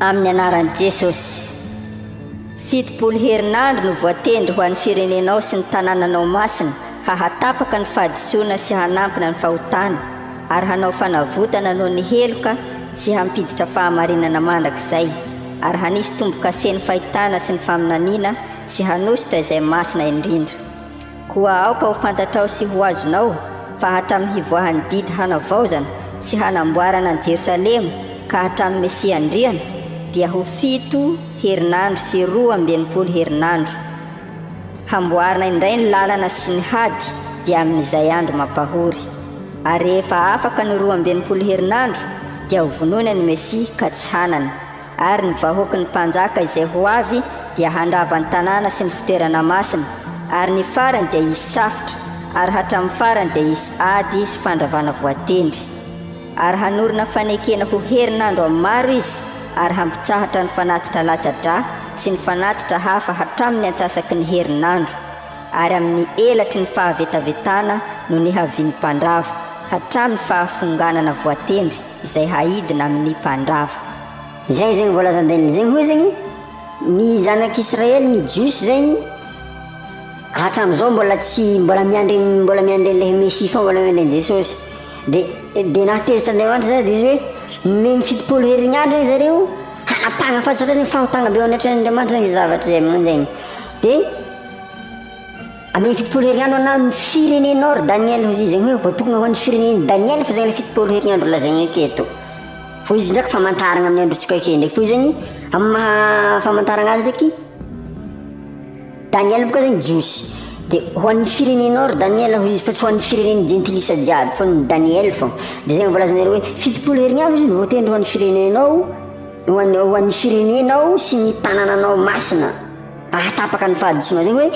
Amin'ny anaran'i Jesosy. Fitopolo herinandro no voatendry ho an'ny firenenao sy ny tanànanao masina hahatapaka ny fahadisoana sy hanampina ny fahotana ary hanao fanavotana noho ny heloka sy hampiditra fahamarinana mandrakizay ary hanisy tombo-kase ny fahitana sy ny faminaniana sy hanositra izay masina indrindra. Koa aoka ho fantatrao sy ho azonao fa hatramin'ny hivoahan'ny didy hanavaozana sy hanamboarana an'i Jerosalema ka hatramin'ny Mesia Andriana, dia ho fito herinandro sy roa amby enimpolo herinandro. Hamboarina indray ny lalana sy ny hady dia amin'izay andro mampahory. Ary rehefa afaka ny roa amby enimpolo herinandro, dia hovonoina ny Mesia ka tsy hanana. Ary ny vahoaky ny mpanjaka izay ho avy dia handrava ny tanàna sy ny fitoerana masina, ary ny farany dia hisy safotra, ary hatramin'ny farany dia hisy ady sy fandravana voatendry. Ary hanorina fanekena ho herinandro amin'ny maro izy, ary hampitsahatra ny fanatitra latsa-drà sy ny fanatitra hafa hatramin'ny antsasaky ny herinandro, ary amin'ny elatry ny fahavetavetana no nihavian'ny mpandrava, hatramin'ny fahafonganana voatendry. izay haidina amin' ny mpandrava. Izay izay ho voalazan-dRainina izay hoe izany ny zanak' Israely ny Jiosy izany hatramin' izao mbola tsy mbola miandry mbola miandry an' ilay Mesia foana mbola miandry an' Jesosy dia dia nahatezitra an' Andriamanitra izany dia izy hoe nomeny fitopolo herin' andro ry zareo hanapahana fahasatrana fahotana be ao anatrehan' Andriamanitra izany zavatra izay manan-dRainy dia An'iny fitopolo herignandro anà ny firenenao ry Daniel hoy izy, izany hoe voatokana ho an'ny firenen'i Daniel fa zany le fitopolo herignandro lazaina eto. Fa izy ndraiky famantaragna amin'ny androntsika akeo ndraiky fa zany amin'ny maha famantaragna azy ndraiky Daniel boka zany jiosy de ho an'ny firenenao ry Daniel hoy izy fa tsy ho an'ny firenen'ny jentilisa jiaby fa ny Daniel fô de zay voalazanareo hoe fitopolo herignandro izy no voatendry ho an'ny firenenao ho an'ny ho an'ny firenenao sy ny tanànanao masina Raha tapaka ny fahadisoanareo hoe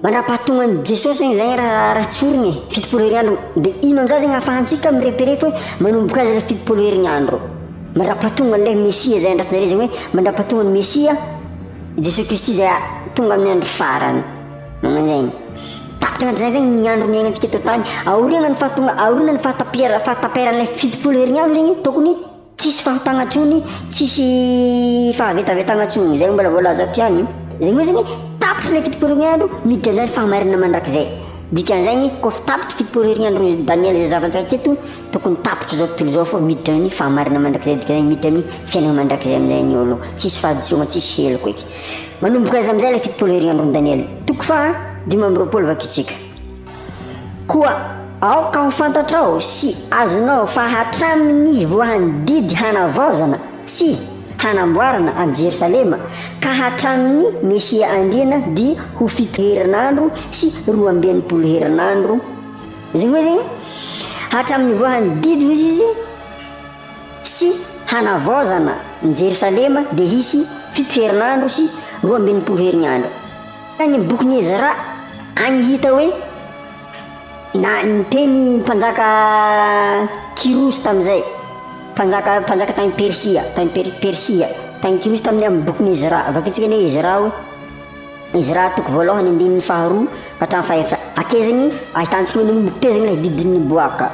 mandrapahatongan'i Jesosy zany izay raharaha raha tsy orina e, fitopolo herinandro, dia ino amin'izany zany ahafahantsika mireperefa hoe manomboka azy ilay fitopolo herinandro. Mandrapahatongan'ilay Mesia izay andrasanareo zany hoe mandrapahatongan'ny Mesia Jesosy Kristy izay tonga amin'ny andro farany. Magnan'izay. Tapitra anatin'izay zany ny andro niainantsika eto an-tany. Aoriana ny fahatonga, aoriana ny fahatapiara- fahataperan'ilay fitopolo herinandro zany tokony Tsisy fahatagna tsony, tsisy fahavetavetagna tsony zay mbola voalazako ihany io. Zany hoe zany tapitry le fitopolo herignandro miditra ndray ny fahamarinana mandrakizay. Dikan'izagny koa fa tapitry fitopolo herignandro Daniel zay zavantsika aketo tokony tapitry zao tontolo zao fô miditra ny fahamarinana mandrakizay dikan'izany miditra ny fiainana mandrakizay amizay ny olo tsisy fahadisoagna tsisy heloka eky. Manomboka aiza amizay le fitopolo herignandro Daniel? Toko faha dimy amby roapolo vakitsika. Koa aoka ho fantatrao sy azonao fa hatramin'ny voahan'ny didy hanavaozana sy hanamboarana an'i Jerosalema ka hatramin'ny Mesia Andriana dia ho fito herinandro sy roa amby enimpolo herinandro izay hoe izay hatramin'ny voahan'ny didy hoy izy sy hanavaozana ny Jerosalema dia hisy fito herinandro sy roa amby enimpolo herinandro Tany bokin'i Ezra any hita hoe na niteny mpanjaka Kyrosy tamin'izay, mpanjaka mpanjaka tany Persia, tany per, Persia, tany Kyrosy tamin'ny amin'ny bokin'i Ezra. Vakintsika ny hoe Ezra hoe Ezra toko voalohany andininy faharoa ka hatramin'ny fahefatra. Akezany ahitantsika hoe nomotezana ilay didin'ny boaka.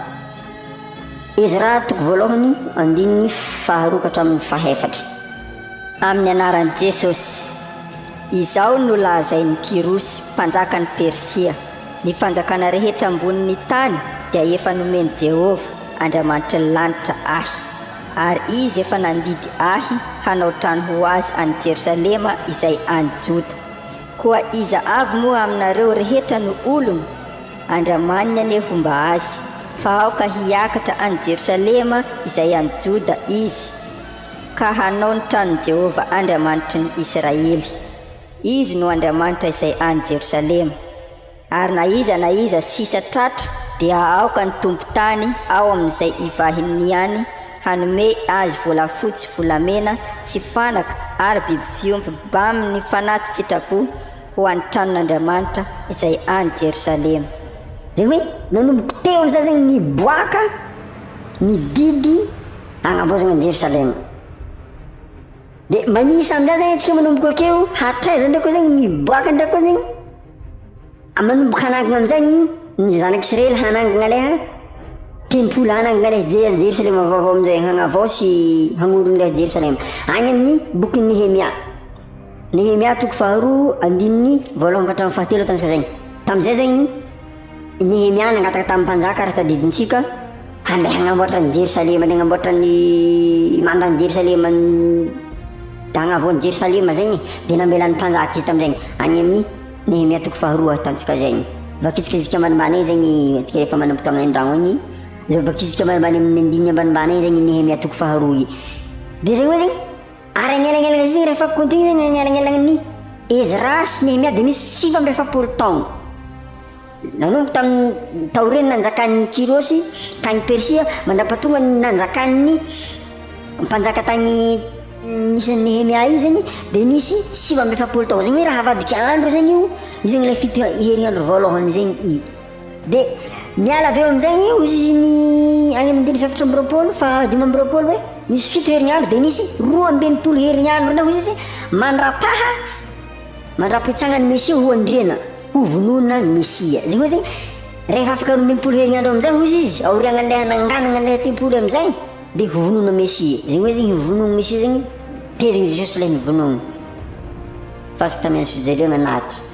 Ezra toko voalohany andininy faharoa ka hatramin'ny fahefatra. Amin'ny anaran'i Jesosy. Izao no lazain'i Kyrosy, mpanjakan'i Persia, Ny fanjakana rehetra ambonin'ny tany dia efa nomen'i Jehovah, Andriamanitry ny lanitra, ahy, ary izy efa nandidy ahy hanao trano ho azy any Jerosalema izay any Joda. Koa iza avy moa aminareo rehetra no olony? Andriamaniny anie homba azy, fa aoka hiakatra any Jerosalema izay any Joda izy. ka hanao ny tranon'i Jehovah Andriamanitry ny Israely. Izy no Andriamanitra izay any Jerosalema, ary na iza na iza sisa tratra dia aoka ny tompon-tany ao amin'izay ivahiny any hanome azy volafotsy, volamena sy fanaka ary biby fiompy bamin'ny fanati-tsitrapo ho an'ny tranon'Andriamanitra izay any Jerosalema. Izay hoe, nanomboka teo amin'izany izay niboaka ny didy. Hanambozina an'i Jerosalema. Dia manisa amin'izany izany antsika manomboka akeo, hatraiza indray koa izany miboaka indray koa izany. Manomboka hanangina amin'izay ny ny zanak'Israely hanangina ilay ha tempoly hanangina ilay Jerosalema vaovao amin'izay hagnavao sy hagnorona ilay Jerosalema. Any amin'ny bokin'i Nehemia. Nehemia toko faharoa andininy voalohany ka hatramin'ny fahatelo tantsika izay. Tamin'izay izany Nehemia nangataka tamin'ny mpanjaka ary tadidintsika, Andeha hagnamboatra an'i Jerosalema, andeha hagnamboatra ny manda an'i Jerosalema, hagnavoa an'i Jerosalema zegny, dia namelan'ny mpanjaka izy tamin'izegny, agny amin'ny Nehemia toko faharoa ahitantsika zegny. Vakitsika isika ambanimbany eo zegny, antsika efa manam-potoagna an-dragno agny, zao vakitsika ambanimbany amin'ny andininy ambanimbany eo zegny Nehemia toko faharoa io. Dia zegny hoe zegny. Ary agnelanelana izay rehefa kontigny zegny agnelanelagn'ny Ezra sy Nehemia dia misy sivy amby efapolo taogno. Nanomboka tamin'ny taorian'ny nanjakan'i Kyrosy tagny Persia mandrapatonga ny nanjakan'ny mpanjaka tagny misy an'i Nehemia igny zegny dia nisy sivy amby efapolo taogno. Zegny hoe raha avadika andro zegny io, io zegny ilay fito herinandro voalohany zegny i. Dia miala avy eo amin'izay eo izy ny any amin'ny andininy fahaefatra amby roapolo, fahadimy amby roapolo hoe nisy fito herinandro dia nisy roa amby enimpolo herinandro indray hoy izy mandrapaha mandrapitsanga ny Mesia ho andriana ho vonoina ny Mesia. Izay hoe izay rehefa afaka roa amby enimpolo herinandro amin'izay hoy izy aorianan'ilay hananganana ilay tempoly amin'izay dia ho vonoina Mesia. Izay hoe izay vonoina Mesia izay tezina Jesosy ilay novonoina. Fa sy tamin'ny ansiojeliona anaty.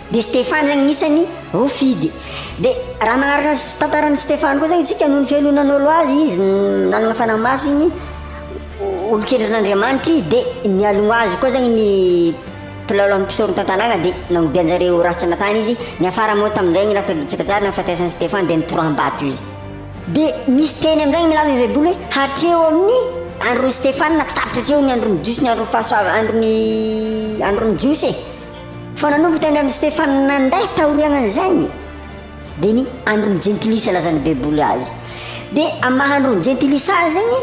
Dia Stefany zany anisany ho fidy. Dia raha magnaraka ny tantaran'i Stefany koa zany isika noho ny fialonana nolo azy izy nanana fanahy masiny olon-kendrin'Andriamanitra izy dia nialoha azy koa zany ny mpilalao amin'ny mpisoron-tantanàna dia nanodianjareo ho ratsana tany izy. Niafara moa tamin'izay ny raha tadidintsika tsara nahafatesan'i Stefany dia nitoram-bato izy. Dia misy teny amin'izany milaza izay baiboly hoe hatreo amin'ny andron'i Stefany na tapitra hatreo ny andron'ny Jiosy ny andron'ny fahasoavan'ny andron'ny Jiosy e. Fa nanomboka tany amin'i Stefana nandà taorianan'izany, dia ny andron'ny Jentilisa lazan'ny Baiboly azy. Dia amin'ny maha andron'ny Jentilisa azy zegny,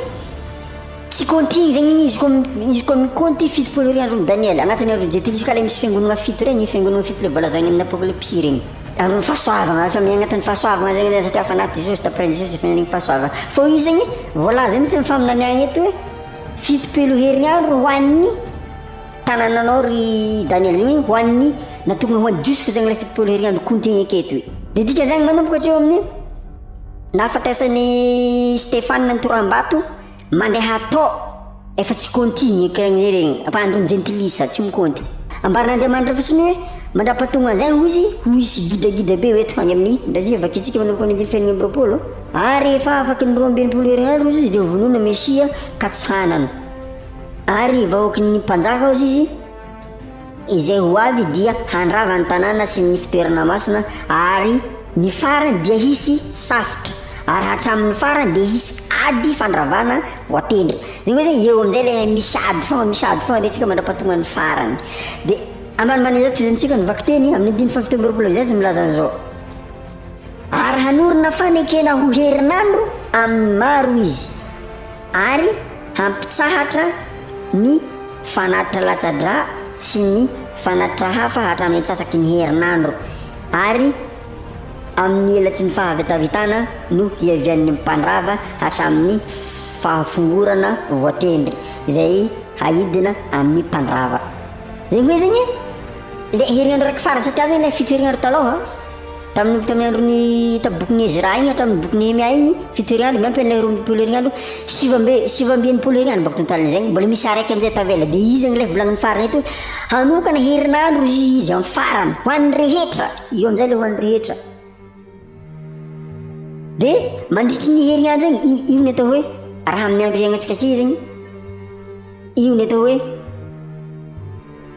tsy compte-igny zegny igny izy koa izy koa mi-compte fitopolo iray andron'i Daniela, agnatin'ny andron'ny Jentilisa ka le misy fiangonagna fito regny, fiangonagna fito le voalazagny amin'ny Apokalypsy regny. Andron'ny fahasoavagna, efa miaigny agnatin'ny fahasoavagna zegny le satria efa naty Jesosy, d'après Jesosy efa niaigny fahasoavagna. Fô izy zegny voalaza mihitsy amin'ny faminaniagna eto hoe fitopolo herignandro ho an'ny. Tanananao ry Daniel zany hoe ho an'ny natokana ho an'ny Jiosy fotsiny zany ilay fitopolo heriandro compté eka eto e. Dia dika zany manomboka hatreo amin'ny nahafatesan'i Stefana ny toram-bato mandeha atao efa tsy compté ny eka anie regny ampahandro ny jentilisa tsy mi-compté. Ambaran'Andriamanitra fotsiny hoe mandrapatonga zany hoy izy ho hisy gidragidra be ho eto any amin'ny Brazil vakintsika manomboka ny andin'ny fahadimy amby roapolo ary rehefa afaky ny roa amby enimpolo herignandro hoy izy dia ho vonoina Mesia ka tsy hanana Ary ny vahoaky ny mpanjaka ao Zizy, izay ho avy dia handrava ny tanàna sy ny fitoerana masina, ary ny farany dia hisy safotra, ary hatramin'ny farany dia hisy ady fandravana voatendry. Izany hoe zany eo amin'izay ilay misy ady foana, misy ady foana resintsika mandra-pahatongan'ny farany. Dia ambanimbany izao tohizantsika ny vakiteny amin'ny andininy fahafito amby roapolo izay izy milaza an'izao. Ary hanorina fanekena ho herinandro amin'ny maro izy. ary hampitsahatra ny fanatitra latsa-drà sy ny fanatitra hafa hatramin'ny antsasaky ny herinandro ary amin'ny helatsy ny fahavetavetana no hiavian'ny mpandrava hatramin'ny fahafongorana voatendry izay haidina amin'ny mpandrava. Izay hoe zegny le herinandro raiky farany satria zegny le fito herinandro talon an. Tamin'ny tamin'ny andron'ny tamin'ny bokin'i Ezra iny hatramin'ny bokin'i Nehemia iny, fito herignandro miampy an'ilay roa ambin'ny folo herignandro, sivy amby sivy amby enimpolo herignandro mba tontalina izay, mbola misy araiky amin'izay tavela, dia iza ange ilay volanin'ny farany eto hoe hanokana herinandro izy izy amin'ny farany, ho an'ny rehetra, io amin'izay ilay ho an'ny rehetra. Dia mandritry ny herignandro iny, i- io ny atao hoe raha amin'ny andro iainantsika aty zegny, io ny atao hoe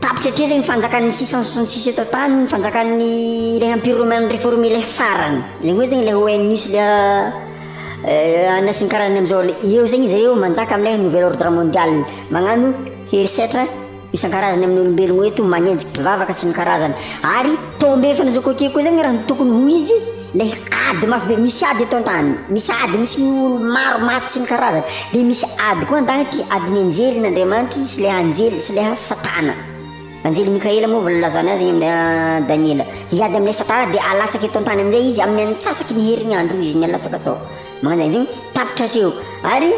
Tapitra hatraiza ny fanjakan'ny six cent soixante six eto an-tany, ny fanjakan'ny ilay empire romain réformé ilay farany, ilay hoe zegny ilay ONU sy ilay euh, anona sy ny karazany amin'izao le eo zegny izy eo manjaka amin'ilay nouvel ordre mondial, magnano herisetra isan-karazany amin'ny olombelogno eto, magnenjiky mpivavaka sy ny karazany, ary tombefana zao koa aty koa zegny raha ny tokony ho izy, Ilay ady mafy be, misy ady eto an-tany, misy ady misy olo maro maty sy ny karazany, dia misy ady koa an-danitra, adin'ny anjelin' Andriamanitra sy ilay anjely sy ilay Satana. Anjely Mikaela moa voalazana azy amin'ny ah, Daniela. Hiady amin'ilay Satana dia alatsaka eto an-tany amin'izay izy amin'ny antsasaky ny herinandro izy ny alatsaka tao. Magnanjany zegny tapitra hatreo. Ary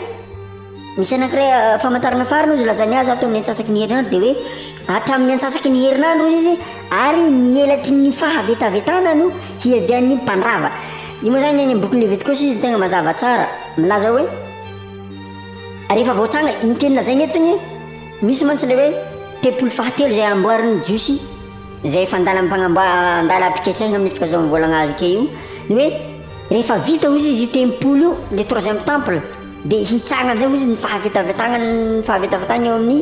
Misy anankiray famantarana farany hozy lazainy azy ato amin'ny antsasaky ny herinandro dia hoe hatramin'ny antsasaky ny herinandro hozy izy ary ny elatry ny fahavetavetana no hiavian'ny mpandrava. Io moa izany any amin'ny boky Levitikosy izy tegna mazava tsara. Milaza hoe rehefa voatsanga iny teny lazainy etsy igny misy mantsy ilay hoe tempoly fahatelo izay amboarin'ny Jiosy izay efa an-dalam-pagnamboa- an-dalam-piketreha mihitsy ka zao mivolagna azy ke io ny hoe rehefa vita hozy izy io tempoly io le troisième temple. Dia hitsanga amin'izay hozy ny fahavetavetagna ny fahavetavetagna eo amin'ny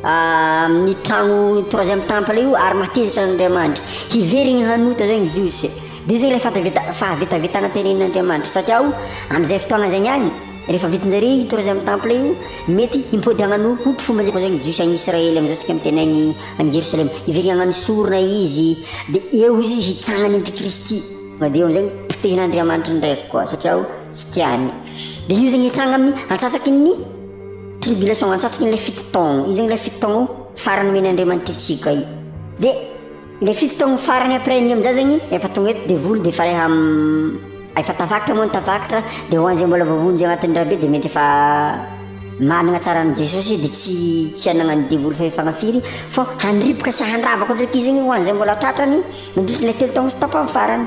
amin'ny tragno troisième temple io ary mahatezitra an'Andriamanitra. Hiverigny hanota zay ny Jiosy. Dia io zay ilay fataveta- fahavetavetagna tenenin'Andriamanitra satria o am'zay fotoagna zay niany rehefa vitan-jare io troisième temple io mety himpody hagnano hotry fomba zay koa zay ny Jiosy agny Israely am'zao tsika miteny agny agny Jerosalema. Hiverigny hagnano sorona izy dia eo hozy izy hitsanga ny antikristy. Dia eo am'zay potehin'Andriamanitra ndraiky koa satria o. Tsy tiany. Dia io zegny hitsanga amin'ny antsasaky ny tribulation, antsasaky ilay fito taogno. Io zegny ilay fito taogno farany omen'Andriamanitra antsika io. Dia ilay fito taogno farany après an'io amin'izay zegny efa tonga eto devoly dia efa le ham efa tafakatra moa ny tafakatra dia ho an'izay mbola voavonjy agnatin'ny rabe dia mety efa managna tsara an'i Jesosy izy dia tsy tsy anagnan'ny devoly fahefagna firy fô handripoka sy handrava koa ndraiky izy igny ho an'izay mbola tratrany mandritry ilay telo taogno sy tapany farany.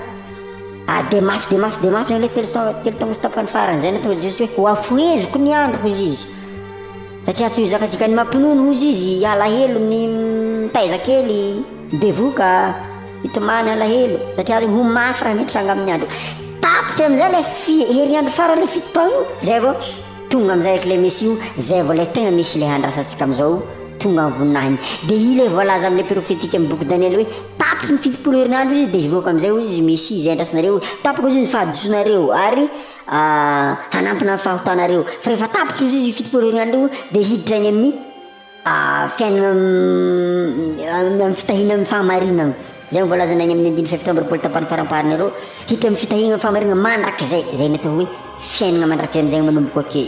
Ary dia mafy dia mafy dia mafy izany hoe telo telo taona sy tapany farany izay nataon'i Jesoa hoe hoafoheziko ny andro hozy izy. Satria tsy hozakatsika ny mampinono hozy izy alahelo ny mitaiza kely bevoka hitomany alahelo satria ry ho mafy raha mitranga amin'ny andro. Tapitra amin'izay ilay fi- herinandro farany ilay fito taona io, izay vao Tonga amizay ak le mesy io zay vao le tegna mesy le handrasantsika amizao tonga am voninahiny de i le voalaza amle profetika am boky daniela hoe tapitry ny fitopolo herinandro izy de hivoaka amizay ozy mesy zay andrasanareo tapaka ozy ny fahadisonareo ary hanampina ny fahotanareo fa refa tapitra ozy izy fitopolo herinandro io de hiditra any aminy fiainana amin'ny fitahiana amin'ny fahamarinana, izay no voalazana eny amin'ny andininy fahefatra amby roapolo tapany faramparany aloha, hiditra amin'ny fitahiana amin'ny fahamarinana mandrakizay, izay no atao hoe fiainana mandrakizay amin'izay manomboka ake.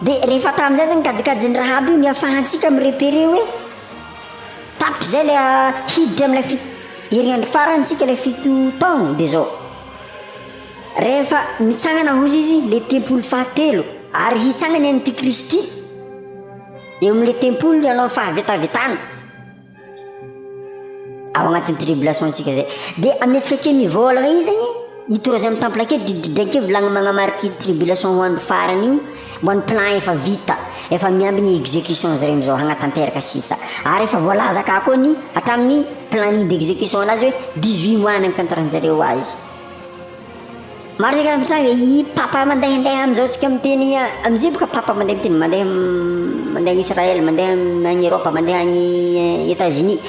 De rehefa tamin'izay zany kajikajin'i Rahaba io niafahantsika mi-repérer hoe tato izay le hiditra amin'ilay fi- herignandro farany tsika ilay fito taona de zao, rehefa mitsangana hozy izy le tempoly fahatelo ary hitsangana i Antikristy. Eo amin'ilay tempoly no hanao ny fahavetavetana ao anatin'ny tribulation-tsika izay. Dia amihetsika kely ny vôlagna io zegny, mitory azy amin'ny temple akeo, dridridridraigny akeo vilagny magnamariky io tribulation ho andro farany io, ho an'ny plan efa vita, efa miamby ny execution-ny zareo am'zao hagnatanteraka sisa. Ary efa voalaza akà koa ny hatramin'ny planning d'execution-nazy hoe dix-huit mois ny hagnatanteran-jareo azy. Maro ny angaha mitranga i papa mandehandeha amin'izao tsika miteny amin'izay boka papa mandeha miteny mandeha mandeha any Israël mandeha any Europe mandeha any Etats Unis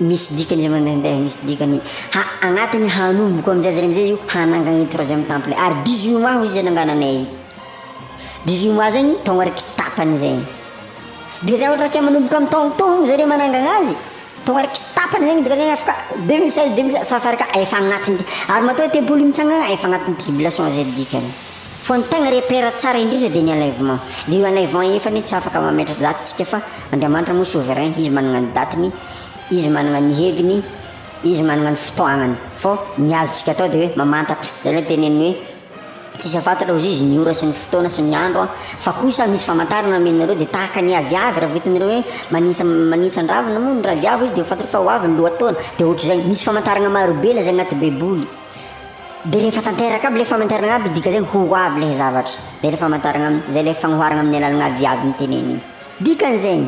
misy dikany izay mandehandeha misy dikany ha agnatiny hanomboka amin'izay zany amin'izay izy io hanangany troisième temple ary dix huit mois hoy izy zay nangananay dix huit mois zegny taogna raiky sy tapany zay de zay ohatra ke manomboka amin'ny taogno tôgno zareo manangagna azy Tonga ary tsy tapany zegny dika zegny afaka deux mille seize deux mille fa fara ka efa agnatiny ary matoa ny tempoly mitsangana efa agnatiny tribulation zay dikany fa ny tegna repère tsara indrindra de ny enlèvement de io enlèvement io nefa anie tsy afaka mametra date tsika fa Andriamanitra moa souverain izy managna ny datiny izy managna ny heviny izy managna ny fotoagnany fô ny azotsika atao de hoe mamantatra zay le teneniny hoe Tsisy afantatra hoy izy ny ora sy ny fotoana sy ny andro an! Fa kosa misy famantarana nomenareo dia tahaka ny aviavy raha vitanareo hoe manintsa manintsan-dravina moa ny raviavy hoy izy dia ho fantatrao fa ho avy ny lohataona dia ohatr'izay misy famantarana marobe ilay izay anaty baiboly dia rehefa tanteraka aby ilay famantarana aby dikan'izay ho avy ilay zavatra izay ilay famantarana aminy izay ilay fagnoharana amin'ny alalana aviavy noteneniny dikan'izay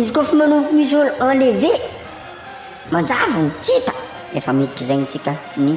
izy koa fa manomboka misy ol enlever manjavona tsy hita efa miditra izay ny tsika ny